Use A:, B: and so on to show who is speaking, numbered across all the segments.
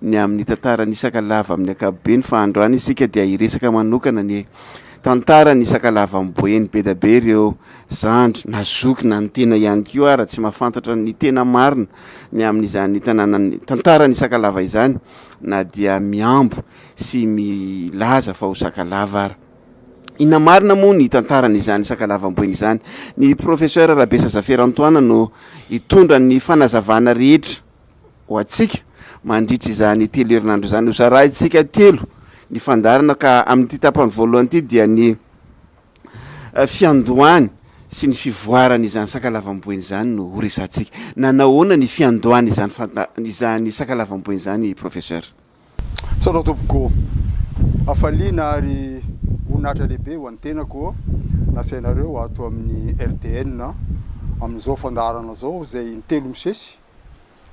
A: ny amin'ny tantara ny Sakalava amin'ny ankapobeny fa androany isika dia hiresaka manokana ny tantara ny Sakalava amin'ny boeny bedabe ireo zandry na zoky na ny tena ihany koa ara tsy mafantatra ny tena marina ny amin'izany tanànan'ny tantara ny Sakalava izany na dia miambo sy milaza fa ho Sakalava ara Inona marina moa ny tantarany izany sakalavam-boina izany? Ny professeur Rabesa Zaferantoana no hitondra ny fanazavana rehetra. ho antsika mandritra izany telo herinandro izany. Hozarahintsika telo ny fandaharana ka amin'ity tapany voalohany ity dia ny fiandohany sy ny fivoarany izany sakalavam-boina izany no horesahantsika. Nanao ahoana ny fiandohany izany izany sakalavam-boina izany professeur? Misaotra
B: tompoko ô! Hafaliana ary voninahitra lehibe ho an'ny tenako nasainareo ato amin'ny RTN amin'izao fandaharana izao izay in-telo misesy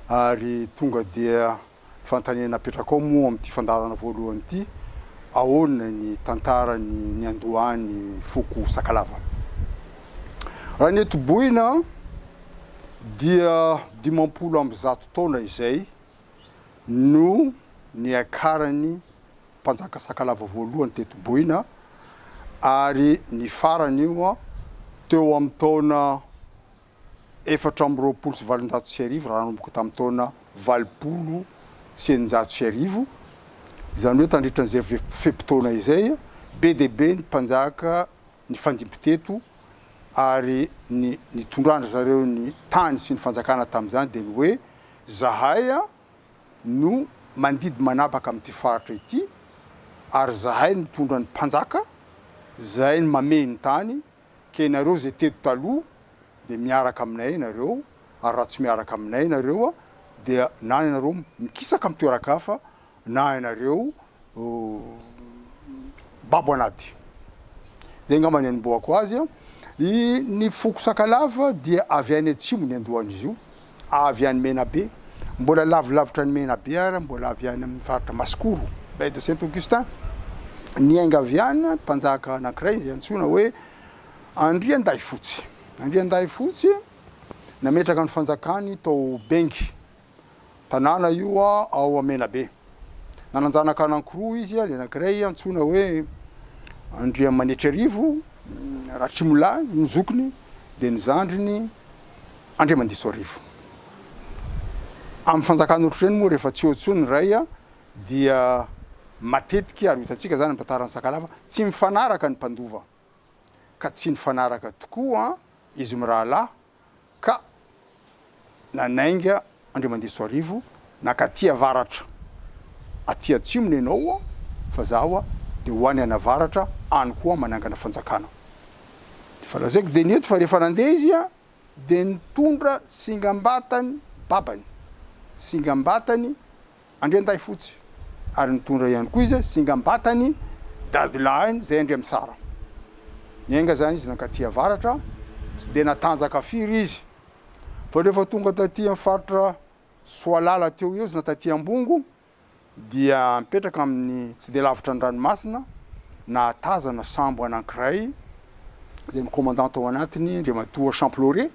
B: ary tonga dia ny fanontaniana apetrakao moa amin'ity fandaharana voalohany ity, ahoana ny tantaran'ny niandohan'ny foko Sakalava? Raha ny etoboina dia dimampolo amby zato taona izay no niakaran'ny mpanjaka sakalava voalohany teto Boina ary ny farany io teo amin'ny taona efatra amby roapolo sy valonjato sy arivo raha nanomboka tamin'ny taona valopolo sy eninjato sy arivo, izany hoe tandritran'izay fe-potoana izay be dia be ny mpanjaka nifandimby teto ary ny nitondran-dry zareo ny tany sy ny fanjakana tamin'izany dia ny hoe zahay no mandidy manapaka amin'ity faritra ity ary zahay no mitondra ny mpanjaka, zahay no mamehy ny tany ka ianareo izay teto taloha dia miaraka aminay ianareo ary raha tsy miaraka aminay ianareo dia na ianareo mikisaka amin'ny toeran-kafa na ianareo babo anaty zay angamba ny anombohako azy a! i ny foko sakalava dia avy any atsimo ny andohan'izy io avy any Menabe mbola lavilavitra any Menabe ary mbola avy any amin'ny faritra Masikoro baie de Saint Augustin niaingaviana mpanjaka anankiray izay antsoina hoe Andriandahifotsy Andriandahifotsy nametraka ny fanjakany tao Bengy Tanàna io ao Menabe. Nanan-janaka anankiroa izy, ny anankiray antsoina hoe Andriamanitriarivo, Ratrimila no zokiny, dia ny zandriny Andriamandisoarivo. Amin'ny fanjakana ohatr'ireny moa rehefa tsy eo intsony ny ray dia matetika, ary ho hitantsika izany amin'ny tantaran'i Sakalava, tsy mifanaraka ny mpandova, ka tsy nifanaraka tokoa izy mirahalahy ka nanainga Andriamandisoarivo naka aty avaratra, aty atsimo ny anao fa zaho dia ho any anavaratra any koa manangana fanjakana. Dia efa lazaiko dia ny eto fa rehefa nandeha izy dia nitondra singambatany babany, singambatany, Andriandahifotsy ary nitondra ihany koa izy singam-batany dadilahiny izay Andriamisara. Niainga izany izy nankaty avaratra, tsy dia natanjaka firy izy fa rehefa tonga taty amin'ny faritra Soalala teo ho eo izy na taty Ambongo dia mipetraka amin'ny tsy dia lavitra an-dranomasina, nahatazana sambo anankiray izay mikomandà tao anatiny Andriamatoa Champlore.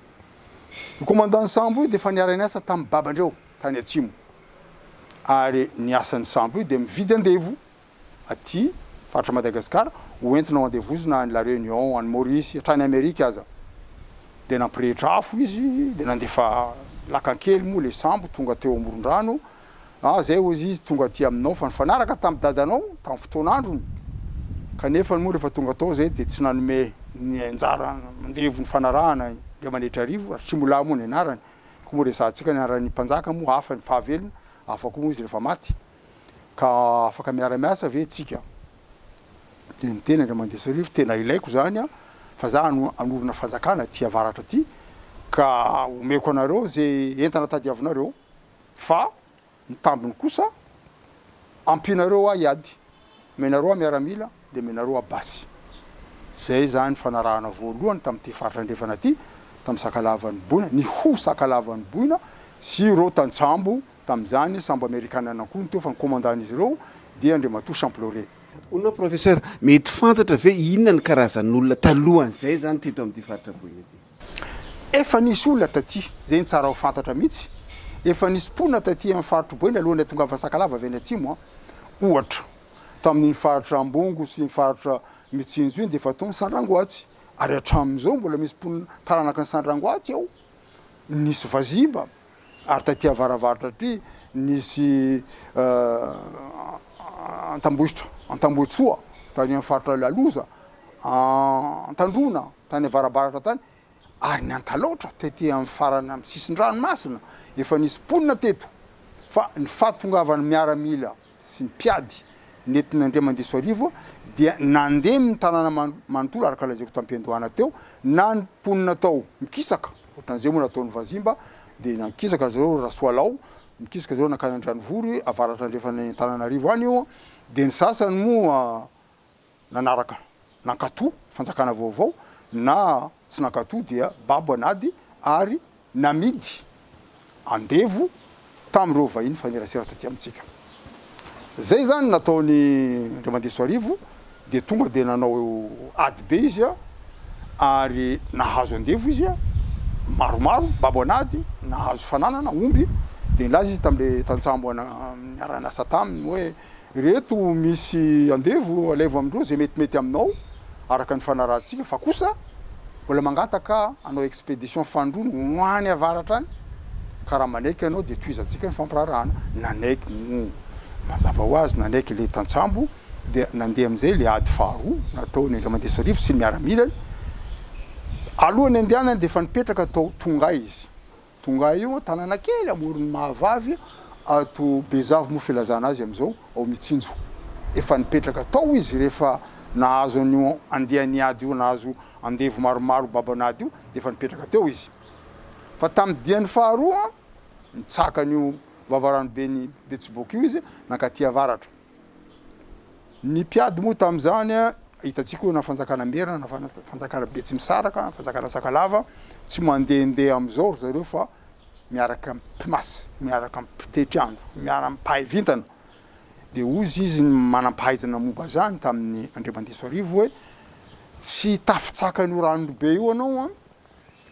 B: Io komandàn'ny sambo io dia efa niara-niasa tamin'ny babandreo. tany atsimo ary ny asan'ny sambo io dia mividy andevo aty faritra Madagasikara ho entina ho andevozina any La Réunion, any Maurice, hatrany Amerika aza. Dia nampirehitra afo izy dia nandefa lakan-kely moa ilay sambo tonga teo Amorondrano, ah zay hozy izy tonga aty aminao fa nifanaraka tamin'i dadanao tamin'ny fotoan'androny kanefa moa rehefa tonga tao zay dia tsy nanome ny anjara mandevo nifanarahana Andriamaniatrarivo, Ratrimoalahy moa ny anarany. Koa moa resahantsika ny anaran'ny mpanjaka moa hafa ny fahavelona, hafa koa moa izy rehefa maty. Ka afaka miara-miasa ve tsika? Dia niteny Andriamandriasarivo, tena ilaiko izany an, fa za hanorina fanjakana aty avaratra aty, ka omeko anareo ze entana tadiavinareo, fa Ny tambiny kosa, ampianareo ahy hiady, omenareo ahy miaramila, dia omenareo ahy basy. Izay izany fanarahana voalohany tamin'ity faritra andrefana ity, tamin'ny sakalavan'ny boina, ny ho sakalavan'ny boina, sy ireo tantsambo tamin'izany, sambo amerikana ihany koa no teo fa ny komandan'izy ireo dia Andriamatoa Champlaurier. Hono aho Professeur,
A: mety fantatra ve inona ny karazan'olona talohan'izay izany teto amin'ity faritra boina ity? Efa nisy olona
B: taty, izay no tsara ho fantatra mihitsy, efa nisy mponina taty amin'ny faritr'i Boeny alohan'ny hatongavan'i Sakalava avy any atsimo, ohatra, tamin'iny faritra Ambongo sy ny faritra Mitsinjo iny dia efa tao ny Sandrangoatsy, ary hatramin'izao mbola misy mponina taranaka ny Sandrangoatsy ao, nisy Vazimba, ary taty avaravaratra aty nisy Antambohitra, Antambohitsoa, tany amin'ny faritra Laloza, Antandroana. tany avarabaratra tany, ary ny Antalaotra tety amin'ny farany amin'ny sisin-dranomasina, efa nisy mponina teto, fa ny fahatongavan'ny miaramila sy ny mpiady nentin'Andriamandisoarivo dia nandemy ny tanàna manontolo araka lazaiko tamim-piandohana teo, na ny mponina tao mikisaka, ohatran'izay moa nataon'ny Vazimba, dia nankisaka ry zareo Rasoalao, nikisaka zareo nankany Andranovory, avaratra andrefan'Antananarivo any io, dia ny sasany moa, nanaraka nankato fanjakana vaovao na tsy nankato dia babo an'ady ary namidy andevo tamin'ireo vahiny mifanerasera taty amintsika. Izay izany nataony Andriamandesoarivo dia tonga dia nanao ady be izy ary nahazo andevo izy maromaro, babo an'ady, nahazo fananana, omby, dia nilaza izy tamin'ilay tantsambo niara-niasa taminy hoe. Ireto misy andevo alaivo amindreo zay metimety aminao araka ny fanarahantsika fa kosa mbola mangataka hanao expedition fandroana ho any avaratra any ka raha manaiky ianao dia tohizantsika ny fampiraharahana. Nanaiky moa mazava ho azy nanaiky ilay tantsambo dia nandeha amin'izay ilay ady faharoa nataony Andriamandeso Arivo sy ny miaramilany. Alohan'ny andehanany dia efa nipetraka tao Tonga izy Tonga eo an, tanàna kely amoron'i Mahavavy ato Bezavo moa filazana azy amin'izao, ao Mitsinjo. Efa nipetraka tao izy rehefa nahazo an'io andiany ady io, nahazo andevo maromaro baban'ady io dia efa nipetraka teo izy. Fa tamin'ny diany faharoa, nitsaka an'io vavaranoben'i Betsiboka io izy, nankaty avaratra. Ny mpiady moa tamin'izany, hitantsika hoe na fanjakana merina na fanjakana betsimisaraka, fanjakana sakalava, tsy mandehandeha amin'izao ry zareo fa miaraka amin'ny mpimasy, miaraka amin'ny mpitetry andro, miaraka amin'ny mpahay vintana. Dia hozy izy ny manam-pahaizana momba izany tamin'ny Andriamandiso Arivo hoe, tsy hitafy tsaka an'io ranon'Ilobe io ianao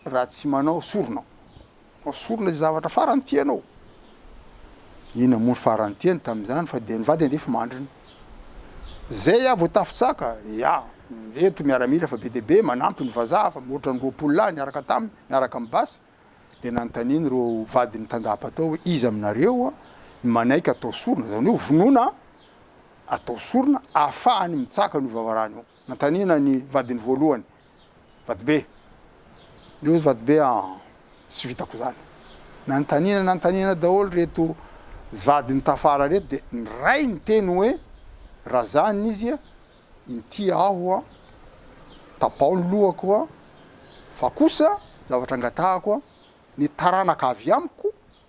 B: raha tsy manao sorona. Esory ilay zavatra farany tianao. Iny hamono farany tiany tamin'izany fa dia ny vady handefa mandriny. Zay aho vao tafatsaka, ya, ireto miaramila fa be dia be, manampy ny vazaha fa mihoatra ny roapolo lahy niaraka taminy, miaraka amin'ny basy. Dia nanontaniany ireo vadin'ny tandapa tao hoe iza aminareo no manaiky atao sorona, izany hoe hovonoina an, atao sorona, ahafahany mitsaka an'io vavarano io. Nanontaniana ny vadiny voalohany, Vatobe, ry ozy Vatobe an! tsy vitako izany. Nanontaniana nanontaniana daholo ireto vadiny tafara ireto dia ny ray niteny hoe, Raha izany izy an! inty aho an! tapaho ny lohako an! fa kosa zavatra angatahako an! ny taranaka avy amiko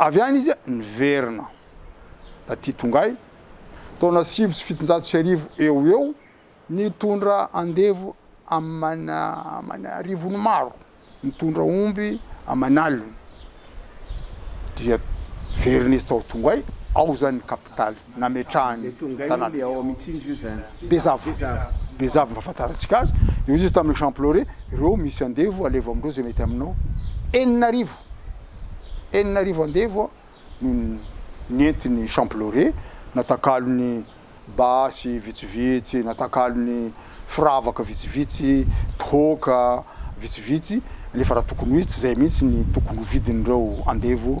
B: Avy any izy niverina taty Tongai, taona sivy sy fitonjato sy arivo eo ho eo, nitondra andevo aman'arivony maro, nitondra omby aman'aliny, dia niverina izy tao Tongai, ao izany ny kapitaly. nametrahany tanàna. Bezavo, Bezavo ny fahafantarantsika azy, dia hoy izy tamin'ny exemple hoe, ireo misy andevo alevo amin'ireo izay mety aminao, enina arivo, enina arivo andevo no nentin'ny champlore, natakalony basy vitsivitsy, natakalony firavaka vitsivitsy, tohoka vitsivitsy, nefa raha tokony ho izy, tsy izay mihitsy ny tokony ho vidin'ireo andevo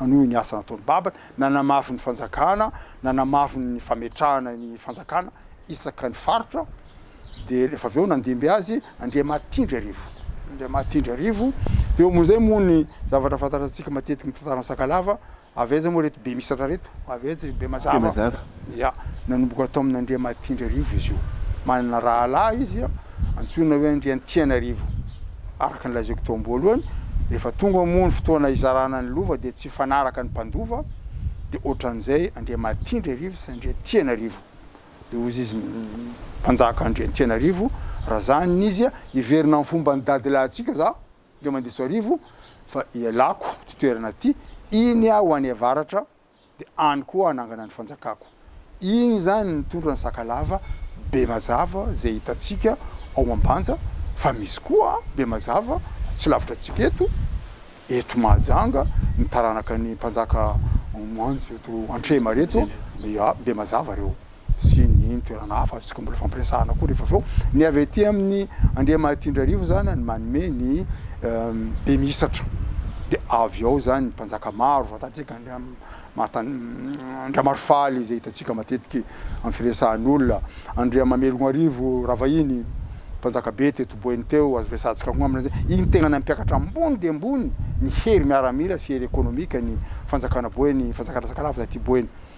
B: nanohy ny asa nataony babany, nanamafy ny fanjakana, nanamafy ny fametrahana ny fanjakana isaka ny faritra, dia rehefa avy eo nandimby azy Andriamahatindrarivo, Andriamahatindrarivo, dia eo amin'izay moa ny zavatra fantatrantsika matetika ny tantaran'i Sakalava, avy aiza moa ireto Bemisatra ireto? avy aiza i Bemazava? Ia, nanomboka tao amin' Andriamatiandrarivo izy io. Manana rahalahy izy antsoina hoe Andriantianarivo. Araka ny lazaiko teo am-boalohany, rehefa tonga moa ny fotoana hizarana ny lova dia tsy hifanaraka ny mpandova, dia ohatran'izay Andriamatiandrarivo sy Andriantianarivo. Dia hozy izy, Mpanjaka Andriantianarivo, raha izany ny izy, hiverina amin'ny fomban'ny dadilahintsika za, Andriamandisoarivo, fa ialako ity toerana ity, iny aho any avaratra, dia any koa hanangana ny fanjakako. Iny izany no nitondra ny Sakalava be mazava izay hitantsika ao Ambanja fa misy koa be mazava tsy lavitra antsika eto, eto Mahajanga, ny taranaka ny mpanjaka Manjo eto Antrehimareto, ya, be mazava ireo. sy ny toerana hafa tsy mbola fampiresahana koa rehefa avy eo. Ny avy aty amin'ny Andriamahitiandrarivo izany no manome ny beminisatra. Dia avy ao izany ny mpanjaka maro, fantatsika Andriamarifaly izay hitantsika matetika amin'ny firesahan'olona, Andriamamelognarivo Ravahiny, mpanjaka be teto Boeny teo, azo resahantsika koa angambany izay. Iny tegna nampiakatra ambony dia ambony ny hery miaramila sy hery ekonomika ny fanjakana Boeny, fanjakana Sakalava taty Boeny.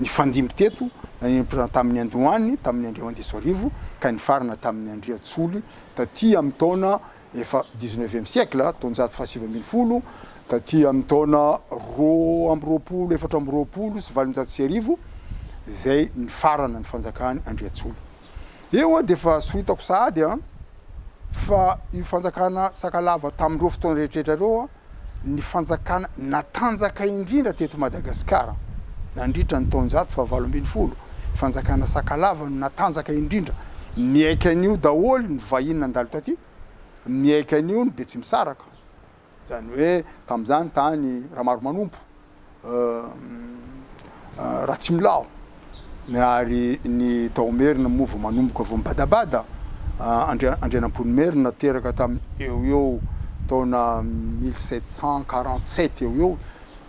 B: nifandimby teto, nanenim-pihaonana tamin'ny Andohany tamin'ny andro enina amby dimampolo sy roa arivo ka nifarana tamin'ny Andriantsoly taty amin'ny taona efa dix-neuvième siècle, taonjato fahasivy ambin'ny folo, taty amin'ny taona roa amby roapolo, efatra amby roapolo sy valonjato sy arivo izay nifarana ny fanjakan'i Andriantsoly. Eo an dia efa soritako sahady an fa io fanjakana Sakalava tamin'ireo fotoana rehetrarehetra ireo an ny fanjakana natanjaka indrindra teto Madagasikara nandritra ny taonjato fahavalo ambin'ny folo. Fanjakana Sakalava no natanjaka indrindra. Niaiky an'io daholo ny vahiny nandalo taty, niaiky an'io ny Betsimisaraka. Izany hoe tamin'izany tany Ramaromanompo, Ratsimilaho, ny ary ny tao Merina moa vao manomboka vao mibadabada, Andrianampoinimerina teraka tamin'ny eo ho eo taona mille sept cent quarante sept eo ho eo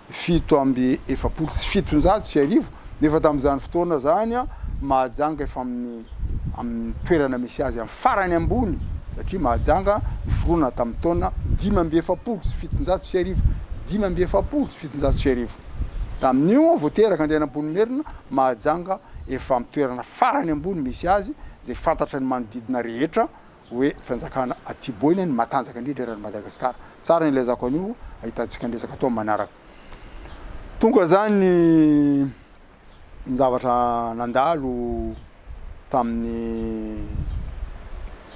B: fito amby efapolo sy fitonjato sy arivo, nefa tamin'izany fotoana izany Mahajanga efa amin'ny amin'ny toerana misy azy amin'ny farany ambony, satria Mahajanga noforonana tamin'ny taona dimy amby efapolo sy fitonjato sy arivo, dimy amby efapolo sy fitonjato sy arivo. Tamin'io vao teraka Andrianampoinimerina, Mahajanga efa amin'ny toerana farany ambony misy azy, izay fantatra ny manodidina rehetra, hoe fanjakana aty boina ny matanjaka indrindra eran'i Madagasikara. Tsara ny ilazako an'io, ahitantsika ny resaka atao manaraka. Tonga zany ny ny zavatra nandalo tamin'ny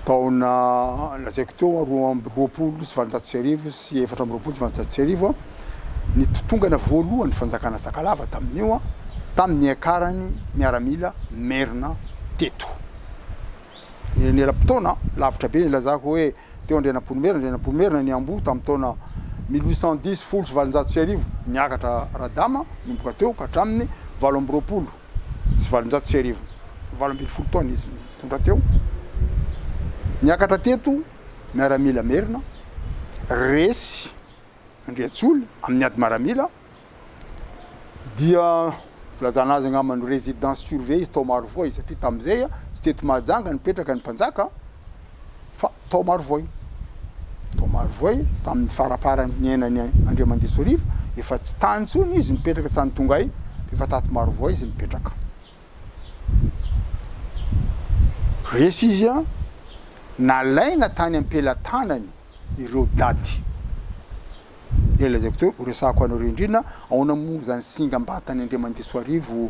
B: taona lazaiko teo a, roa amby roapolo sy valonjato sy arivo sy efatra amby roapolo sy valonjato sy arivo a, ny totongana voalohan'ny fanjakana Sakalava tamin'io a, tamin'ny niakarany miaramila merina teto. eram-potoana lavitra be nilazako hoe teo Andrianampoinimerina, Andrianampoinimerina, ny Amboa tamin'ny taona mille huit cent dix, folo sy valonjato sy arivo, niakatra Radama, nomboka teo ka hatramin'ny valo amby roapolo sy valonjato sy arivo, valo ambin'ny folo taona izy nitondra teo. Niakatra teto miaramila merina, resy Andriantsoly amin'ny ady maramila, dia filazana azy angamba ny residence surveillée izy tao Marovoay satria tamin'izay tsy teto Mahajanga nipetraka ny mpanjaka fa tao Marovoay, tao Marovoay tamin'ny faraparan'ny niainany Andriamandiso Rivo efa tsy tany intsony izy nipetraka tsy tany Tongay fa efa tato Marovoay izy nipetraka. Resy izy nalaina tany am-pelatanany ireo daty dia lazaiko teo, horesahako anareo indrindra, ahoana moa izany singam-batan'i Andriamandiso Arivo,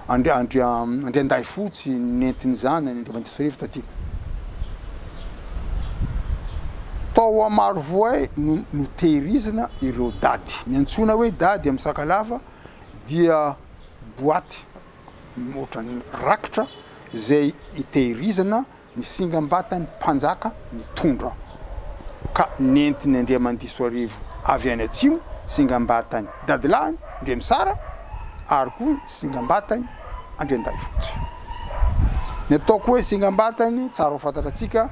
B: Andri- Andri- Andriandahifotsy nentiny izany an'i Andriamandiso Arivo taty. Tao Amarovoay no notehirizina ireo daty. Ny antsoina hoe dady amin'ny Sakalava dia boaty ohatran'ny rakitra izay itehirizana Ny singam-batan'ny mpanjaka nitondra ka nentin'i Andriamandisoarivo avy any atsimo, singam-batan'ny dadilahiny Ndremisara ary koa ny singam-batan'i Andriandahifotsy. Ny ataoko hoe singam-batany tsara ho fantatra antsika,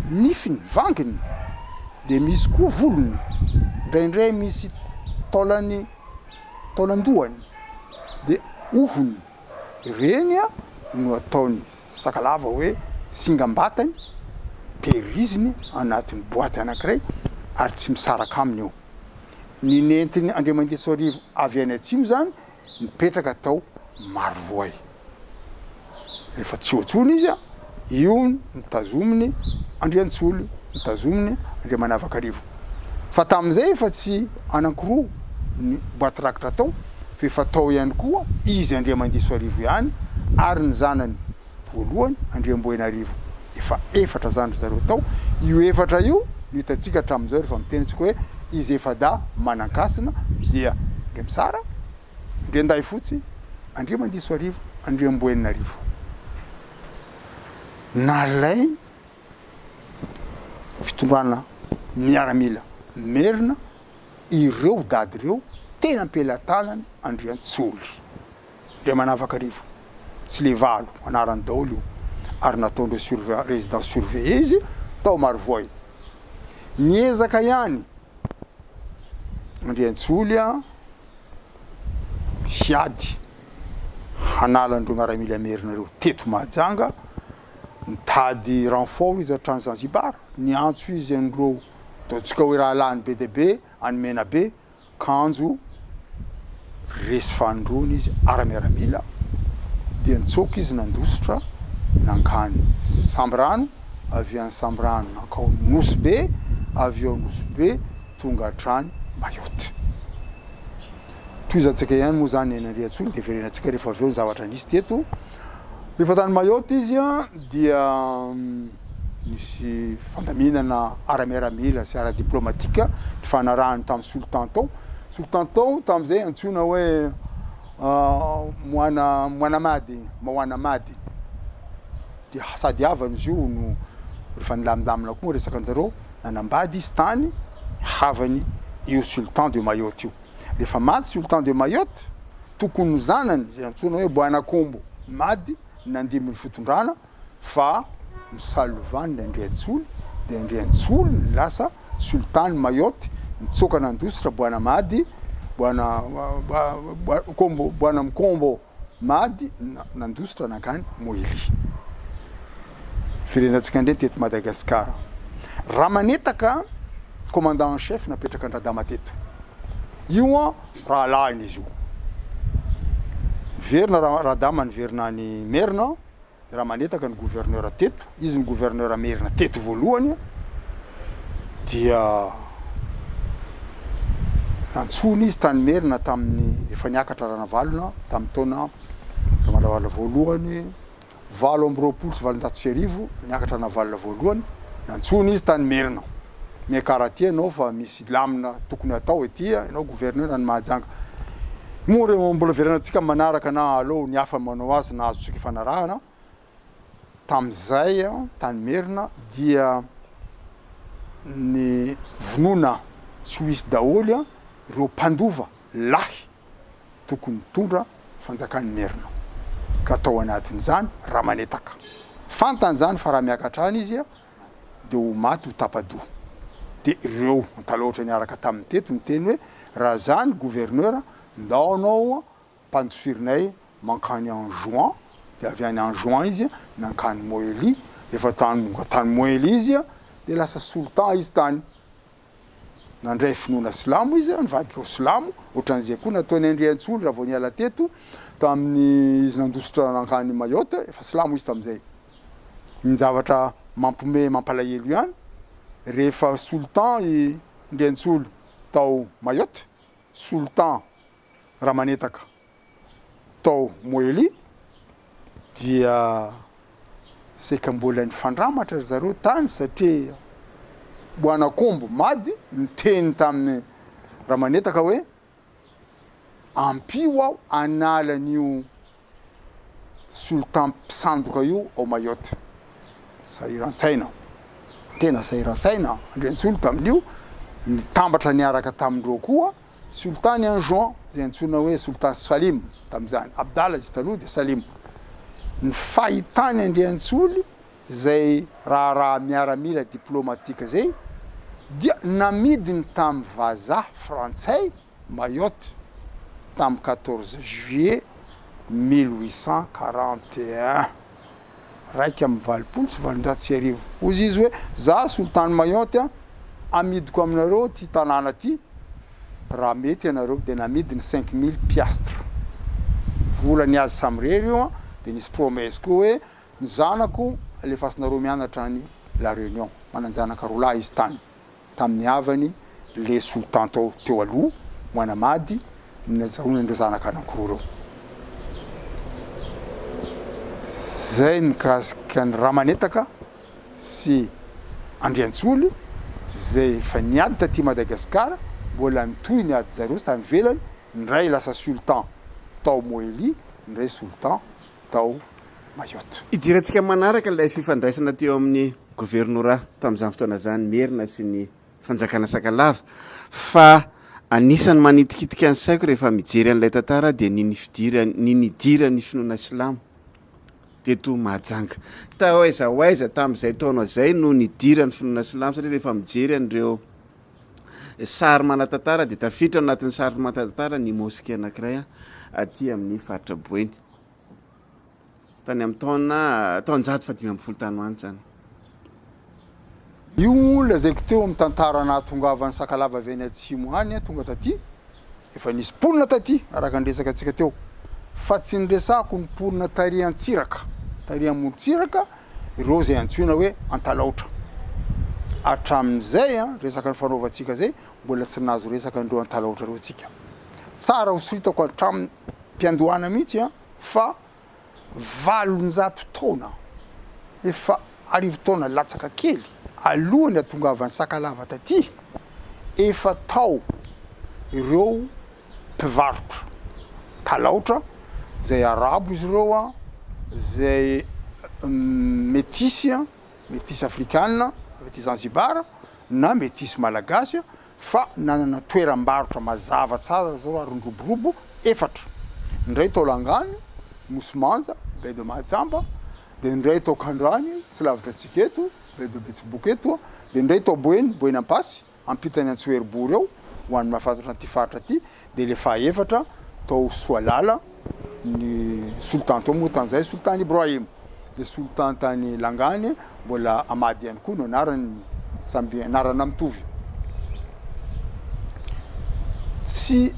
B: nifiny, vanginy, dia misy koa volony, indraindray misy taolany, taolan-dohany, dia hohony. Ireny no ataony. Sakalava hoe singam-batany, tehiriziny anatin'ny boaty anankiray ary tsy misaraka aminy io. Ny nentin' Andriamangesoarivo avy any atsimo izany nipetraka tao Marovoay. Rehefa tsy eo intsony izy, io no tazominy Andriantsolo, no tazominy Andriamanavakarivo. Fa tamin'izay efa tsy anankiroa ny boaty rakitra tao. f'efa tao ihany koa izy Andriamandisoarivo ihany ary ny zanany voalohany Andriamboinarivo efa efatra zany ry zareo tao, io efatra io no hitantsika hatramin'izao rehefa miteny antsika hoe izy efa-dahy Manankasina dia Andriamisara, Andriandahifotsy, Andriamandisoarivo, Andriamboinarivo. Nalainy fitondrana miaramila merina. ireo dady ireo tena am-pelatanany Andriantsoly. Andriamanavakarivo, Tsilevalo, anarany daholo io ary nataondreo surveillant, resident surveillé izy tao Marovoay. Niezaka ihany Andriantsoly hiady hanala an'ireo miaramila merina ireo teto Mahajanga, nitady renfort izy hatrany Zanzibar, niantso izy an'ireo Ataontsika hoe rahalahiny be dia be an'i Menabe, kanjo resy fanindroany izy ara miaramila dia nitsoaka izy nandositra nankany Sambirano, avy any Sambirano nankao Nosy Be, avy ao Nosy Be tonga hatrany Mayotte. Tohizantsika ihany moa izany Henandriantsoa nodeferenantsika rehefa avy eo ny zavatra nisy teto. Rehefa tany Mayotte izy dia nisy fandaminana ara-miaramila sy ara-diplomatika nifanarahany tamin'ny Sultan tao. Sultan tao tamin'izay antsoina hoe Moana Moanamady, Mawana Mady. Dia sady havany izy io no rehefa nilamindamina koa ny resaka an-jareo, nanambady izy tany havany io Sultan de Mayotte io. Rehefa maty tsy Sultan de Mayotte, tokony ny zanany izay antsoina hoe Bwana Kombo Madi no nandimby ny fitondrana fa ny Salovan'i Randriantsoly dia Andriantsoly no lasa Sultan Mayotte, nitsoaka nandositra Bwana Madi, Bwana Kombo, Bwana Mkombo. Mady nandositra nankany Moily. Firenantsika indray teto Madagascar. Ramanetaka commandant en chef napetraka an-dRadama teto. Io an rahalahiny izy io. Niverina Radama niverina any Merina. Raha manetaka ny gouverneur teto, izy ny gouverneur merina teto voalohany, dia nantsoina izy tany merina tamin'ny efa niakatra Ranavalona tamin'ny taona Ranavalona voalohany valo amby roapolo sy valonjato sy arivo, niakatra Ranavalona voalohany, nantsoina izy tany merina. Miakara aty ianao fa misy lamina tokony atao ety a, ianao gouverneur any Mahajanga. Moa re mbola hiverenantsika amin'ny manaraka na aleo ny hafa manao azy na azontsika ifanarahana. Tamin'izay tany Merina dia nivonona tsy ho hisy daholo ireo mpandova lahy tokony hitondra fanjakan'i Merina. Ka tao anatin'izany Ramanetaka. Fantany izany fa raha miakatra any izy dia ho maty ho tapa-doha. Dia ireo Antalaotra niaraka taminy teto niteny hoe, Raha za ny gouverneur, ndao anao ampandifirinay mankany Anjouan, dia avy any Anjouan izy nankany Moely, rehefa tany tonga tany Moely izy dia lasa Sultan izy tany. nandray finoana silamo izy, nivadika ho silamo, ohatran'izay koa nataon'i Andriantsolo raha vao niala teto, tamin'ny izy nandositra nankany Mayotte, efa silamo izy tamin'izay. Ny zavatra mampihomehy, mampalahelo ihany, rehefa Sultan i Ndriantsolo tao Mayotte, Sultan Ramanetaka, tao Moeli dia saika mbola nifandramatra ry zareo tany satria Boanak'omby Mady niteny tamin'i Ramanetaka hoe ampio aho hanala an'io Sultan mpisandoka io ao Mayotte. Sahiran-tsaina, tena sahiran-tsaina Andriantsolo tamin'io, nitambatra niaraka tamindreo koa Sultan i Anjouan, izay antsoina hoe Sultan Salim tamin'izany, Abdallah izy taloha dia Salim, ny fahitany Andriantsoly izay raharaha miaramila diplomatika izay dia namidiny tamin'ny vazaha frantsay Mayotte tamin'ny quatorze juillet mille huit cent quarante et un. iraika amby valopolo sy valonjato sy arivo. Hoy izy hoe, Za, solitany Mayotte a, amidiko aminareo ity tanàna ity, raha mety ianareo, dia namidy ny cinq mille piastres. Vola ny azy samirery io an, dia nisy promesse koa hoe, ny zanako alefasinareo mianatra any La Réunion, manan-janaka roa lahy izy tany. tamin'ny havany leso tanto teo aloha ho hanamady ny najahoany ireo zanaka anankiroa ireo. Izay mikasika an'i Ramanetaka sy Andriantsoly izay efa niady taty Madagasikara, mbola nitohy ny adin-dry zareo tany ivelany, ny iray lasa sultan tao Moely, ny iray sultan tao Mayotte. Hidirantsika manaraka
A: ilay fifandraisana teo amin'ny governorà tamin'izany fotoana izany Merina sy ny fanjakana Sakalava fa anisan'ny manitikitika ny saiko rehefa mijery an'ilay tantara aho dia ny nifidiran ny nidiran'ny finoana silamo teto Mahajanga. Tao aiza ho aiza tamin'izay taona izay no nidiran'ny finoana silamo satria rehefa mijery an'ireo Sary manan-tantara dia tafiditra ao anatin'ny sary manan-tantara ny mosquée anankiray aty amin'ny faritra Boeny. Tany amin'ny taona taonjato fahadimy ambin'ny folo tany ho any izany.
B: Io moa lazaiko teo amin'ny tantara nahatongavan'ny Sakalava avy any atsimo hany tonga taty. Efa nisy mponina taty araka ny resaka antsika teo fa tsy ny resako ny mponina tary Antsiraka, tary Amorontsiraka, ireo izay antsoina hoe antalaotra. Hatramin'izay resaka nifanaovantsika izay mbola tsy nahazo resaka an'ireo antalaotra ireo tsika. Tsara hosoritako hatramim-piandohana mihitsy fa valonjato taona, efa arivo taona latsaka kely alohan'ny hatongavan'ny Sakalava taty, efa tao ireo. mpivarotra talaotra izay arabo izy ireo an, izay metisy an, metisy afrikana avy aty Zanzibar na metisy malagasy fa nanana toeram-barotra mazava tsara ry zareo ary niroborobo efatra, ny iray tao Langano, Nosy Manja, Baie de Mahajamba, dia ny iray tao Kandrany tsy lavitra antsika eto, Baie de Betsiboka eto, dia ny iray tao Boeny, Boeny Ampasy. ampitan'ny Antsoheribory ao ho an'ny mahafantatra an'ity faritra ity dia ilay fahaefatra tao Soalala ny solitany tao moa tany izay solitany Ibrahim ilay solitany tany Langany mbola Amady ihany koa no anarany samby anarana mitovy tsy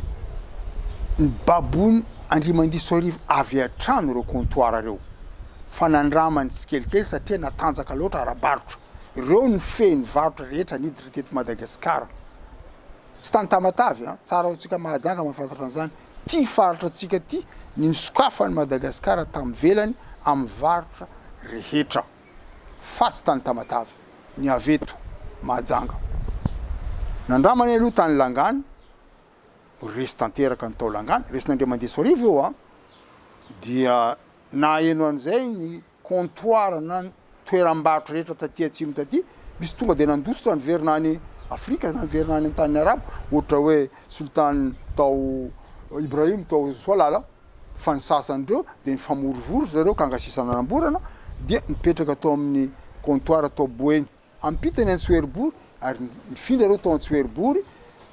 B: ny babony Andriamandiso Arivo avy hatrany ireo comptoir ireo fa nandramany tsikelikely satria natanjaka loatra ara-barotra Ireo no fehiny ny varotra rehetra niditra teto Madagasikara. Tsy tany Tamatave an! Tsara ho tsika Mahajanga mahafantatra an'izany. Ty faritra tsika ty ny nisokafan'i Madagasikara tany ivelany amin'ny varotra rehetra. Fa tsy tany Tamatave. Ny avy eto Mahajanga. Nandramany aloha tany Langany, resy tanteraka ny tao Langany, resin'Andriamandesoarivo io an! Dia nahaheno an'izay ny. comptoir na toeram-barotra rehetra taty atsimo taty, misy tonga dia nandositra niverina any Afrika na niverina any an-tanin'ny Arabo, ohatra hoe Sultan tao Ibrahim tao Soalala, fa ny sasany ireo dia nifamorivory ry zareo ka angasisa nanamborana dia nipetraka tao amin'ny comptoir tao Boeny. Ampita ny an-tsoheriboro ary nifindra ireo tao an-tsoheribory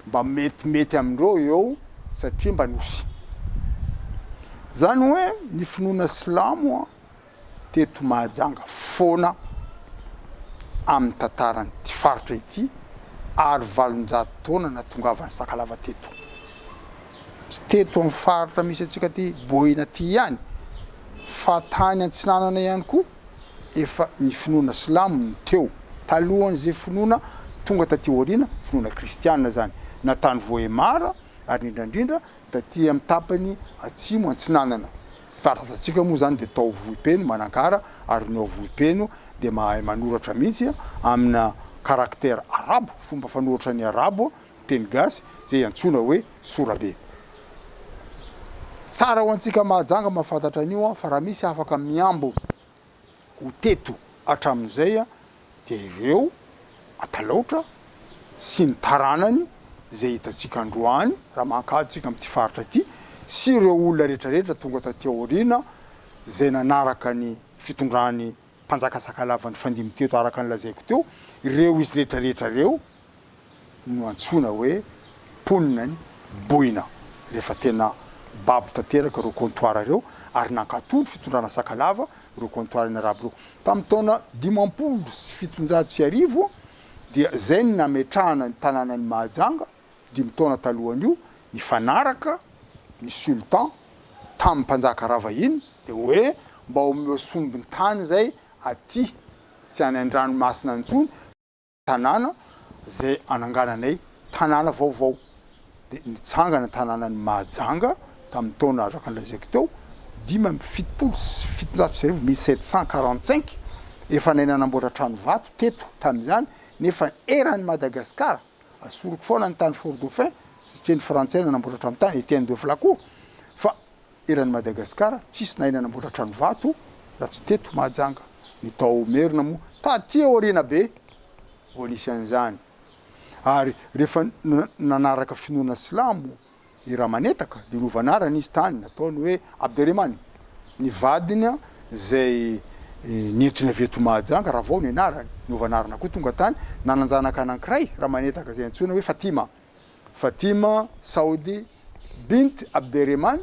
B: mba metimety amindreo eo satria mba nosy. Zany hoe ny finoana silamo teto Mahajanga foana amin'ny tantaran'ity faritra ity ary valonjato taona natongavan'i Sakalava teto. Tsy teto amin'ny faritra misy antsika aty Boina aty ihany fa tany antsinanana ihany koa. efa ny finoana silamo no teo talohan'izay finoana tonga taty aoriana, finoana kristiana izany, na tany Vohemar ary indrindra indrindra taty amin'ny tapany atsimo antsinanana. Faritra tatsika moa izany dia tao Vohipeno, Manakara, ary ny ao Vohipeno dia mahay manoratra mihitsy amina caractère arabo, fomba fanoratra ny arabo, teny gasy izay antsoina hoe sorabe. Tsara ho antsika Mahajanga mahafantatra an'io fa raha misy afaka mihambo ho teto hatramin'izay dia ireo Antalaotra sy ny taranany izay hitantsika androany raha mankà tsika amin'ity faritra ity sy ireo olona rehetrarehetra tonga taty aoriana izay nanaraka ny fitondran'i mpanjaka sakalava nifandimby teto araka ny lazaiko teo, ireo izy rehetrarehetra ireo no antsoina hoe mponina any Boina rehefa tena babo tanteraka ireo comptoirs ireo ary nankatò ny fitondrana sakalava ireo comptoirs ny arabo ireo. Tamin'ny taona dimampolo sy fitonjato sy arivo dia izay no nametrahana ny tanànan'i Mahajanga, Dimy taona talohan'io, nifanaraka ny Sultan tamin'ny mpanjaka ravahiny dia hoe mba omeo sombin-tany izay aty, tsy any an-dranomasina intsony, tanàna izay anangananay tanàna vaovao. Dia nitsangana ny tanànan'i Mahajanga tamin'ny taona araka ny lazaiko teo, dimy amby fitopolo sy fitonjato sy arivo, mille sept cent quarante cinq. Efa nahay nanamboatra trano vato teto tamin'izany, nefa eran'i Madagasikara Asoriko foana ny tany Fort Dauphin satria ny frantsay nanamboatra trano tany, Etienne de Flacourt, fa eran'i Madagasikara tsisy nahay nanamboatra trano vato raha tsy teto Mahajanga, ny tao Merina moa taty aoriana be vao nisy an'izany ary rehefa nanaraka finoana silamo, I Ramanetaka dia nova anarana izy tany, nataony hoe Abderemane, ny vadiny izay nentiny avy eto Mahajanga, Ravao ny anarany, nova anarana koa tonga tany, nanan-janaka anankiray Ramanetaka izay antsoina hoe Fatima, Fatima Saudi Bint Abderemane,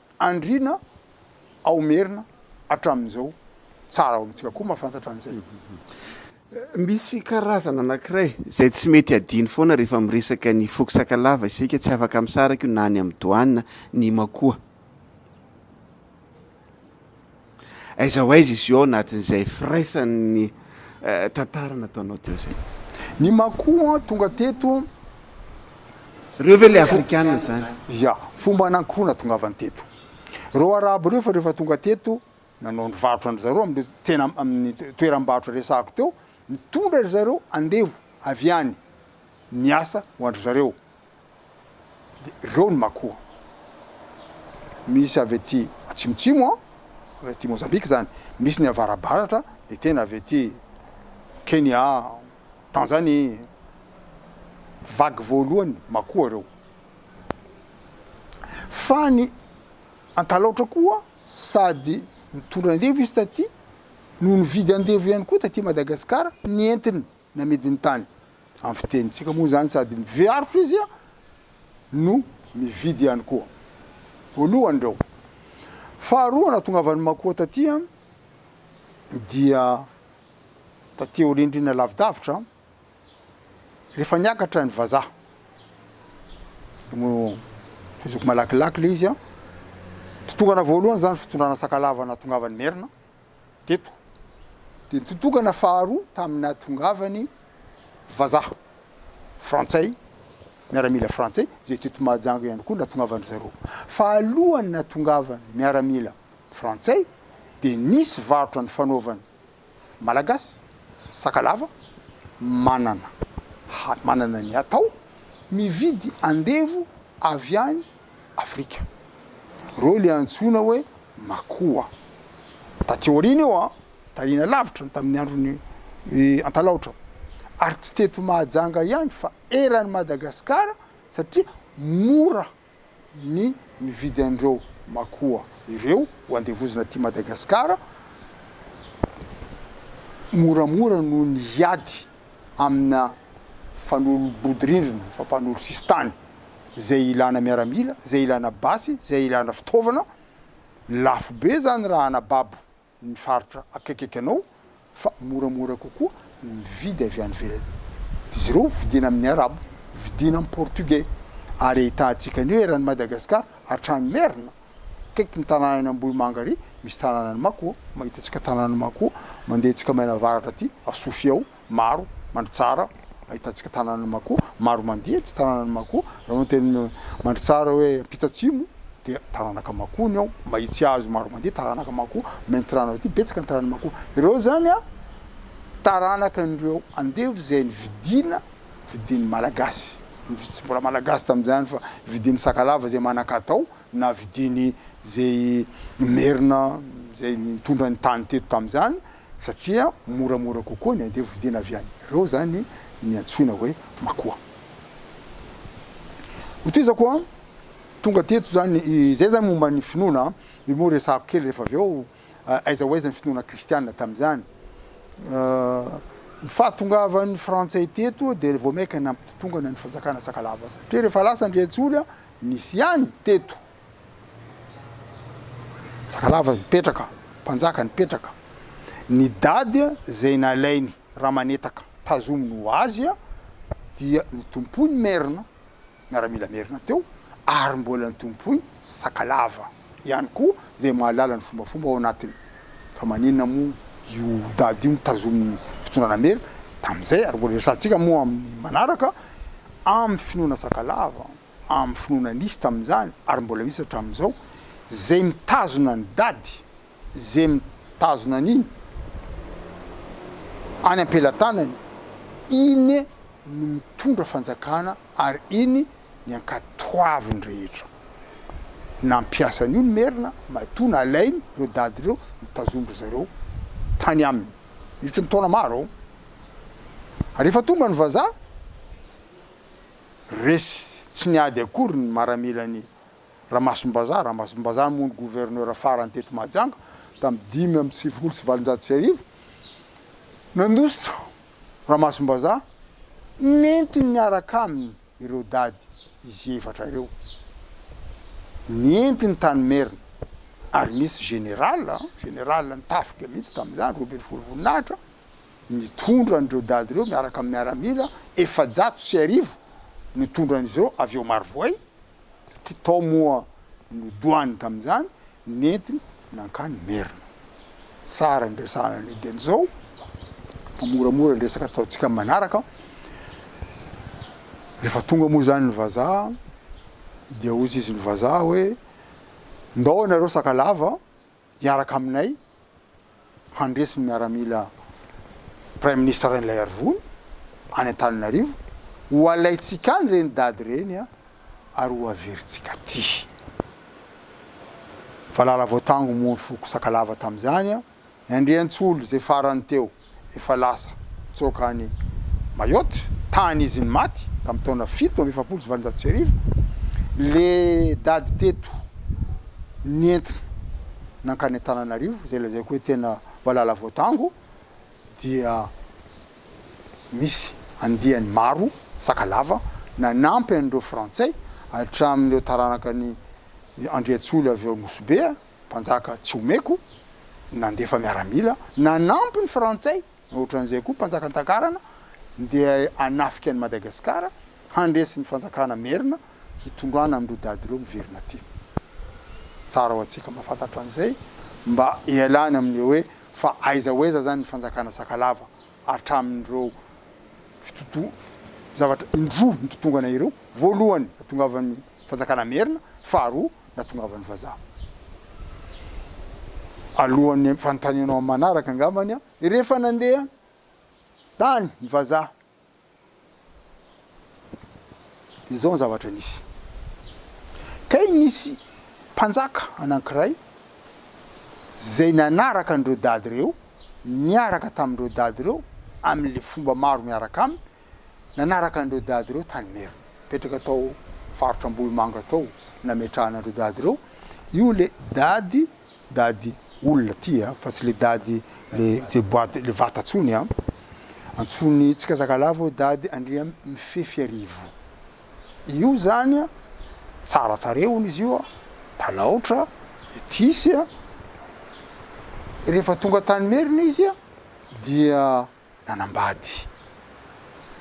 B: andriana ao Merina hatramin'izao. Tsara ho amintsika koa mahafantatra an'izay.
A: Misy karazana anankiray izay tsy mety adino foana rehefa miresaka ny foko Sakalava isika, tsy afaka misaraka io na any amin'ny Doana ny Imakoa. Aiza ho aiza izy io ao anatin'izay firaisan'ny tantara nataonao teo izay? Ny Makua
B: tonga teto.
A: Ireo ve ilay Afrikana izany? Ia. Fomba
B: anankiroa natongavany teto. Ireo Arabo ireo efa rehefa tonga teto, nanao ny varotra an-dry zareo amin'ireo tsena, amin'ny toeram-barotra resahako teo, nitondra ry zareo andevo avy any niasa ho an-dry zareo. dia ireo no makoa. Misy avy aty atsimotsimo an, avy aty Mozambika izany, misy ny avarabaratra dia tena avy aty Kenya, Tanzanie, vague voalohany makoa ireo. Fa ny Antalaotra koa sady nitondra andevo izy taty no nividy andevo ihany koa taty Madagasikara ny entiny. Namidy ny tany. Amin'ny fitenintsika moa izany sady mivearotra izy no mividy ihany koa. Voalohany ireo. Faharoa nahatongavan'i Makoa taty dia taty aorian-drihana lavidavitra rehefa niakatra ny vazaha. Zoky malakilaky ilay izy. Nitotongana voalohany izany fitondrana Sakalava nahatongavan'i Merina. teto dia ny tontokana faharoa tamin'ny nahatongavany vazaha frantsay, miaramila frantsay izay teto Mahajanga ihany koa nahatongavany zareo. Fa alohan'ny nahatongavany miaramila frantsay dia nisy varotra nifanaovany malagasy, sakalava, manana manana ny atao, mividy andevo avy any Afrika. Ireo ilay antsoina hoe Makoa. Taty aoriana io an, tariana lavitra tamin'ny andron'i Antalaotra. Ary tsy teto Mahajanga ihany fa eran'i Madagasikara satria mora ny mividy an'ireo Makoa ireo ho andevozina aty Madagasikara moramora noho ny hiady amina fanolobodirindrina, fampanolosisintany izay ilana miaramila, izay ilana basy, izay ilana fitaovana, lafo be izany raha anababo ny faritra akaikikaiky anao fa moramora kokoa ny mividy avy any ivelany. Izy ireo vidiana amin'ny arabo, vidiana amin'ny portugais ary ahitantsika an'io eran'i Madagasikara hatrany Merina. Akaiky ny tanànan'i Ambohimanga ary misy tanànan'i Mako, mahita antsika tanànan'i Mako mandeha antsika maina avaratra aty, ao Sofia ao, maro, Mandritsara, ahitantsika tanànan'i Mako, maro mandeha ny tanànan'i Mako, raha manao teny Mandritsara hoe ampita-atsimo dia taranaka Mako ny ao, Mahitsihazo maro mandeha taranaka Mako, Maintirano aty betsaka ny taranan'i Mako, ireo zany a taranaka an'ireo andevo izay nividiana vidin'ny malagasy, tsy mbola malagasy tamin'izany fa vidin'ny sakalava izay manan-katao na vidiny izay merina izay nitondra ny tany teto tamin'izany satria moramora kokoa ny andevo vidina avy any, ireo izany ny antsoina hoe makoa. Hotohizako an, tonga teto izany, izay izany momba ny finoana, io moa resahako kely rehefa avy eo. Aiza ho aiza ny finoana kristiana tamin'izany? Ny fahatongavan'ny Frantsay teto dia vao mainka nampitotongana ny fanjakana Sakalava satria rehefa lasa Andriantsoly nisy ihany teto Sakalava nipetraka, mpanjaka nipetraka. Ny dady izay nalainy Ramanetaka tazominy ho azy dia notompoiny Merina miaramila merina teo ary mbola nitompoiny Sakalava ihany koa izay mahalala ny fombafomba ao anatiny fa maninona moa io daty io no tazomin'ny fitondrana merina tamin'izay ary mbola resahantsika moa amin'ny manaraka amin'ny finoana Sakalava amin'ny finoana nisy tamin'izany ary mbola misy hatramin'izao izay mitazona ny daty izay mitazona an'iny any am-pelatanany, iny no mitondra fanjakana ary iny ny ankatoaviny rehetra. Nampiasa an'io ny Merina matoa nalainy ireo dady ireo notazon-dry zareo tany aminy nitry ny taona maro. Ary rehefa tonga ny vazaha, resy tsy niady akory ny maramelan'i Ramasom-bazaha, Ramasom-bazaha moa no gouverneur farany teto Mahajanga tamin'ny dimy amby sivifolo sy valonjato sy arivo. Nandositra Ramasom-bazaha, nentiny niaraka aminy ireo dady izy efatra ireo. Nentiny tany Merina ary misy général, général ny tafika mihitsy tamin'izany, roa ambin'ny folo voninahitra, nitondra an'ireo dady ireo miaraka amin'ny miaramila efajato sy arivo nitondra an'izy ireo avy ao Marovoay satria tao moa nodoany tamin'izany, nentiny nankany Merina. Tsara ny resahana an'io dieny izao fa moramora ny resaka ataontsika amin'ny manaraka. Rehefa tonga moa izany ny vazaha dia hoy izy ny vazaha hoe ndao ianareo Sakalava hiaraka aminay handresy ny miaramila Praiminisitra Rainilaiarivony any Antananarivo, ho alaintsika any ireny dady ireny a, ary ho averintsika aty. Valala Voatango moa ny foko Sakalava tamin'izany a, ny Andriantsolo izay farany teo. efa lasa nitsoaka any Mayotte, tany izy no maty tamin'ny taona fito amby efapolo sy valonjato sy arivo, le dady teto nentina nankany Antananarivo, izay lazaiko hoe tena valala voatango, dia misy andiany maro Sakalava nanampy an'ireo Frantsay hatramin'ireo taranaka an'i Andriantsoly avy ao Nosy Be, Mpanjaka tsy omeko, nandefa miaramila, nanampy ny frantsay, ohatran'izay koa mpanjaka an-takarana, ndeha hanafika an'i Madagasikara, handresy ny fanjakana merina, hitondrana amin'ireo dada ireo miverina aty. Tsara ho antsika mba fantatra an'izay, mba ialana amin'ny hoe fa aiza ho aiza izany ny fanjakana Sakalava, hatramin'ireo zavatra indroa nitotongana ireo, voalohany nahatongavan'ny fanjakana merina, faharoa nahatongavan'ny vazaha. Alohan'ny fanontanianao amin'ny manaraka angambany aho, rehefa nandeha tany ny vazaha, Dia izao ny zavatra nisy. Kay nisy mpanjaka anankiray izay nanaraka an'ireo dady ireo, niaraka tamin'ireo dady ireo amin'ilay fomba maro miaraka aminy, nanaraka an'ireo dady ireo tany Merina. Nipetraka tao faritra Ambohimanga tao nametrahana an'ireo dady ireo. Io ilay dady Dady olona ty a, fa tsy le dady le le boite le vata tsony a. Antsoiny tsikazakalavo hoe dady Andriamifefiarivo. Io zany a tsara tarehy hono izy io a, talaotra, metisy a. Rehefa tonga tany Merina izy a dia. Nanambady.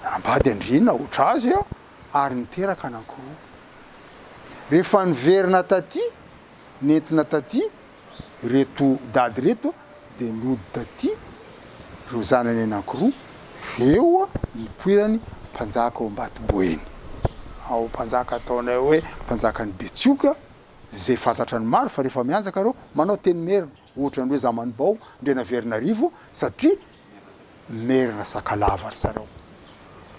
B: Nanambady andriana hoatra azy aho ary niteraka anankiroa. Rehefa niverina taty, nentina taty ireto dady ireto dia nody taty ireo zanany anankiroa ireo nipoiran'ny mpanjaka ao Ambatoboeny. Ao mpanjaka ataonay hoe mpanjakan'i Betsioka, izay fantatran'ny maro fa rehefa mianjaka ireo manao teny merina. Ohatran'ny hoe zamanibao Andrianaverinarivo satria merina Sakalava ry zareo.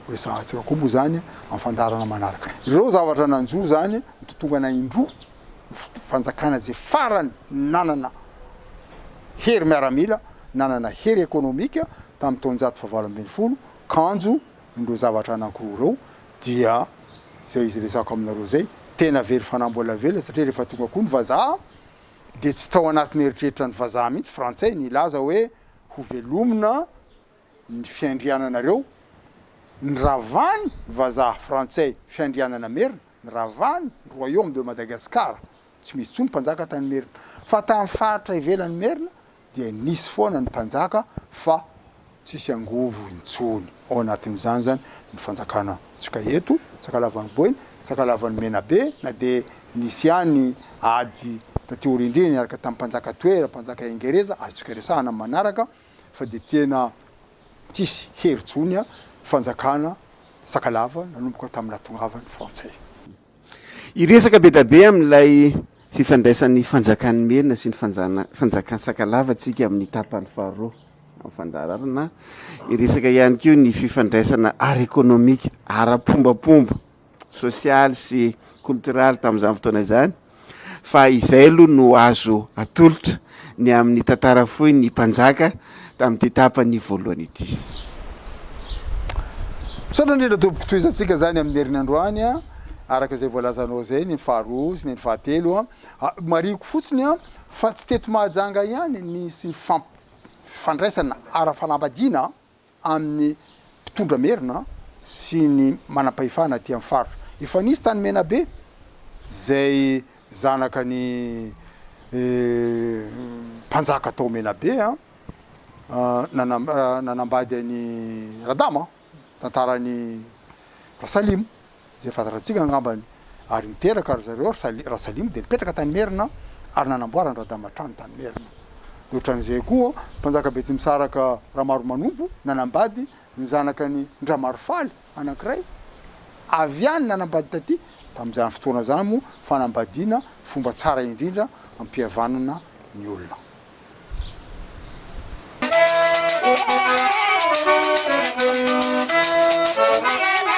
B: Ho resahantsika koa moa izany amin'ny fandaharana manaraka. Ireo zavatra nanjo izany nitontongana indroa ny fanjakana izay farany nanana hery miaramila, nanana hery ekonomika tamin'ny taonjato fahavalo ambin'ny folo. Kanjo ireo zavatra anankiroa ireo dia izay izy resako aminareo izay, tena very fanambola velona satria rehefa tonga koa ny vazaha, dia tsy tao anatin'ny eritreritra ny vazaha mihitsy, frantsay, ny hilaza hoe hovelomina ny fiandriananareo, ny ravany vazaha frantsay fiandrianana merina, ny ravany royaume de Madagascar, tsy misy intsony mpanjaka tany merina, fa tany faritra ivelan'ny merina dia nisy foana ny mpanjaka fa tsisy angovo intsony ao anatin'izany izany ny fanjakana antsika eto Sakalavan'ny Boina, Sakalavan'ny Menabe na dia nisy ihany ady taty aoriandriny niaraka tamin'ny mpanjaka Toera, mpanjaka Ingereza azontsika resahana amin'ny manaraka fa dia tena tsisy hery intsony fanjakana Sakalava nanomboka tamin'ny nahatongavan'ny Frantsay.
A: Hiresaka be dia be amin'ilay fifandraisan'ny fanjakan'i Merina sy ny fanjana- fanjakan'i Sakalava tsika amin'ny tapany faharoa amin'ny fandaharana. Hiresaka ihany koa ny fifandraisana ara-ekonomika, ara-pombapomba, sosialy sy koltoraly tamin'izany fotoana izany. fa izay aloha no azo atolotra ny amin'ny tantara fohy ny mpanjaka tamin'ity tapany voalohany ity.
B: Misaotra indrindra tompoko tohizantsika izany amin'ny herin'ny androany a, araka izay voalazanao izay ny faharoa sy ny fahatelo a, marihiko fotsiny a fa tsy teto Mahajanga ihany nisy ny fandraisana ara-fanambadiana a. amin'ny mpitondra merina sy ny manam-pahefana aty amin'ny faritra. Efa nisy tany Menabe izay zanaka ny mpanjaka tao Menabe nanambady an'i Radama, tantaran'i Rasalimo. izay fahazarantsika angambany, ary niteraka ry zareo ry Rasalimo dia nipetraka tany Merina ary nanamboara ny Radama trano tany Merina. Dia ohatran'izay koa mpanjaka Betsimisaraka Ramaromanompo nanambady ny zanakany Ndramarofaly anankiray avy any nanambady taty tamin'izany fotoana izany moa fanambadiana fomba tsara indrindra ampihavanana ny olona.